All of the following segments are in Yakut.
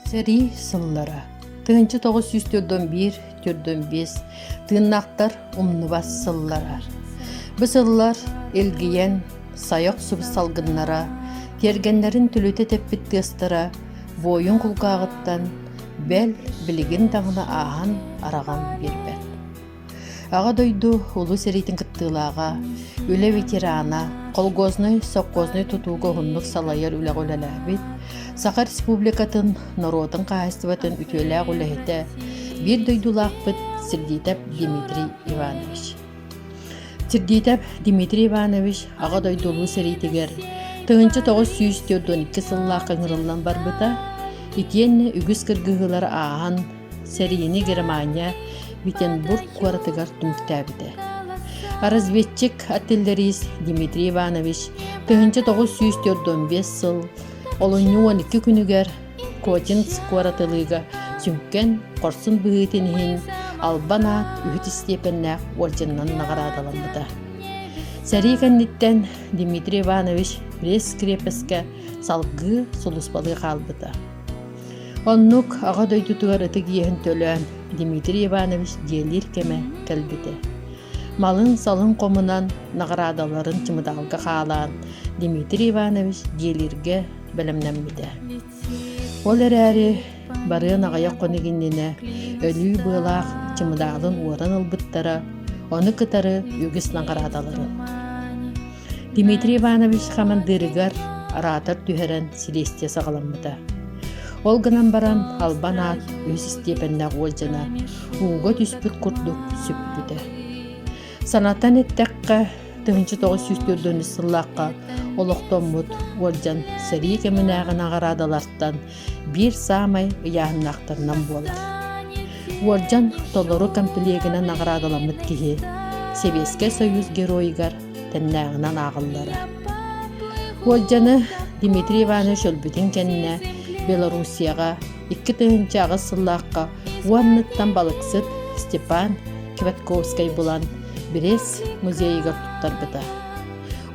Сэрии сыллара тыһыынча тоҕус сүүс төрдөн биир төрдөн биэс тыыннахтар умнубат сыллара. Бу сыллар илгийэн, сайық суб салгыннара, тиэргэннэрин түлүтэ тэппит тыастара буойун кулгааҕыттан бэл, билигин даҕаны ааһан, араҕан биэрбэт. Аҕа дойду улус сэриитин кыттыылааҕа, үлэ ветерана, колхознай, совхознай тутууга уһуннук салайар үлэҕэ үлэлээбит, Саха Республикатын норуотун хаһаайыстыбатын үтүөлээх үлэһитэ, биир дойдулаахпыт Сердитов Дмитрий Иванович. Сергейтов Дмитрий Иванович Аҕа дойду Улуу сэриитигэр тыһыынча тоҕус сүүс түөрт икки сыллаахха ыҥырыллан барбыта итиэннэ үгүс кыргыһыылары ааһан сэриини Германия Витенбург куоратыгар түмүктээбитэ. Разведчик артиллерист Дмитрий Иванович тыһыынча тоҕус сүүс түөрт он биэс сыл олунньу уон икки күнүгэр Котинц куоратылыыга сүҥкэн хорсун быһыытын иһин албан аат үһүс истиэпэннээх уордьанынан наҕараадаламмыта. Сэрии кэнниттэн Дмитрий Иванович пресс-крепескэ салгыы сулуспалыы хаалбыта. Оннук Аҕа дойдутугар ытык иэһин төлөөн Дмитрий Иванович дьиэлиир кэмэ кэлбитэ. малын-салын хомунан наҕараадаларын чымыдаалга хаалаан Дмитрий Иванович диэлиргэ бэлэмнэммитэ. Ол эрээри барыан аҕыйах хонук иннинэ өлүү быалаах чымыдаалын уоран ылбыттара, ону кытары үгүс наҕараадаларын. Дмитрий Иванович хамандыырыгар араатар түһэрэн силиэстийэ саҕаламмыта. Ол гынан баран албан аат үһүс истиэпэннээх уолдьана ууга түспүт курдук сүппүтэ. Санатан эттэххэ, тыһыынча тоҕус сүүс төрдүнчү сыллаахха олохтоммут уолдьан сэрии кэминээҕи наҕараадалартан биир саамай ыйааһыннаахтарынан буолар. Уолдьан толору комплегынан наҕараадаламмыт киһи Сэбиэскэй Союз геройугар тэннээҕинэн ааҕыллара. Уолдьаны Дмитрий Иванович өлбүтүн кэннэ Белоруссияҕа икки тыһыынча аҕыс сыллаахха уонныттан балыксыт Степан Квятковскай булан Брест музейыгар туттарбыта.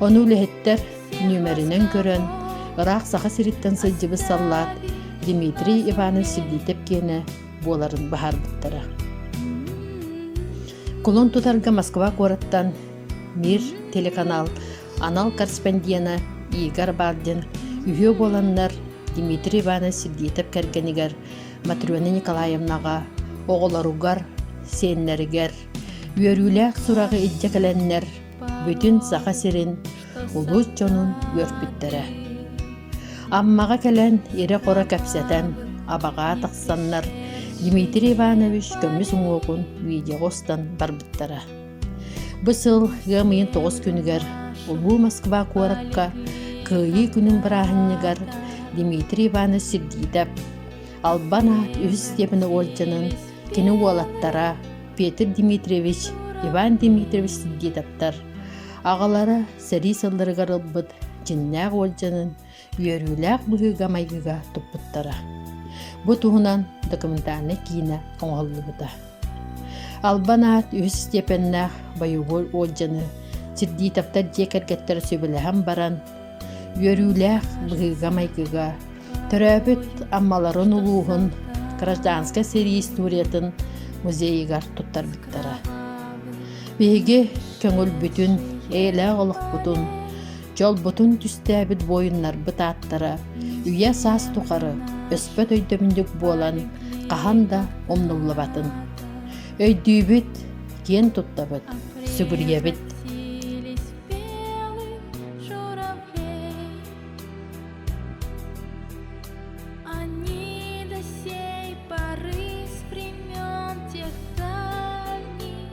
Ону үлэһиттэр нүмеринэн көрөн, ыраах Саха сириттэн сылдьыбыт саллаат Дмитрий Иванович Сергейтев киэнэ буоларын баһаарбыттара. Кулун тутарга Москва куораттан Мир телеканал анал корреспондена Игорь Бардин үһүө буоланнар Дмитрий Иванович Сергеев кэргэнигэр Матрена Николаевнаҕа оҕолоругар, сиэннэригэр үөрүүлээх сураҕы илдьэ кэлэннэр бүтүн Саха сирин улуус дьонун үөрпүттэрэ. Аммаҕа кэлэн ирэ-хоро кэпсэтэн абаҕаа тахсаннар Дмитрий Иванович көмүс уҥуоҕун видеоҕа устан барбыттара. Бу сыл ыам ыйын тоҕус күнүгэр Улуу Москва куоракка Кыайыы күнүн бырааһынньыгар Дмитрий Иванович Сергитов Албан аат үһүс степени уолдьанын, кини уолаттара Петр Дмитриевич, Иван Дмитриевич Сергитовтар аҕалара сэрии сылларыгар ылбыт дьиннээх уолдьанын үөрүүлээх быһыыга-майгыга туппуттара. Бу туһунан документальнай киинэ оҥоһуллубута. Албан аат үһүс степеннээх боевой отдьыны Сирдитовтар дьиэ кэргэттэрэ сөбүлэһэн баран, үөрүүлээх быһыыга-майгыга, төрөөбүт Аммаларын улууһун гражданскай сэрии историятын музейыгар туттарбыттара. Биһиги көҥүл бүтүн, эйэлээх олохпутун, Дьолбутун түстээбит буойуннарбыт ааттара үйэ-саас тухары өспөт өйдөбүнньүк буолан хаһан да умнуллубатын. Өйдүүбүт, киэн туттабыт, сүгүрүйэбит. Они до сей поры с времен тех давних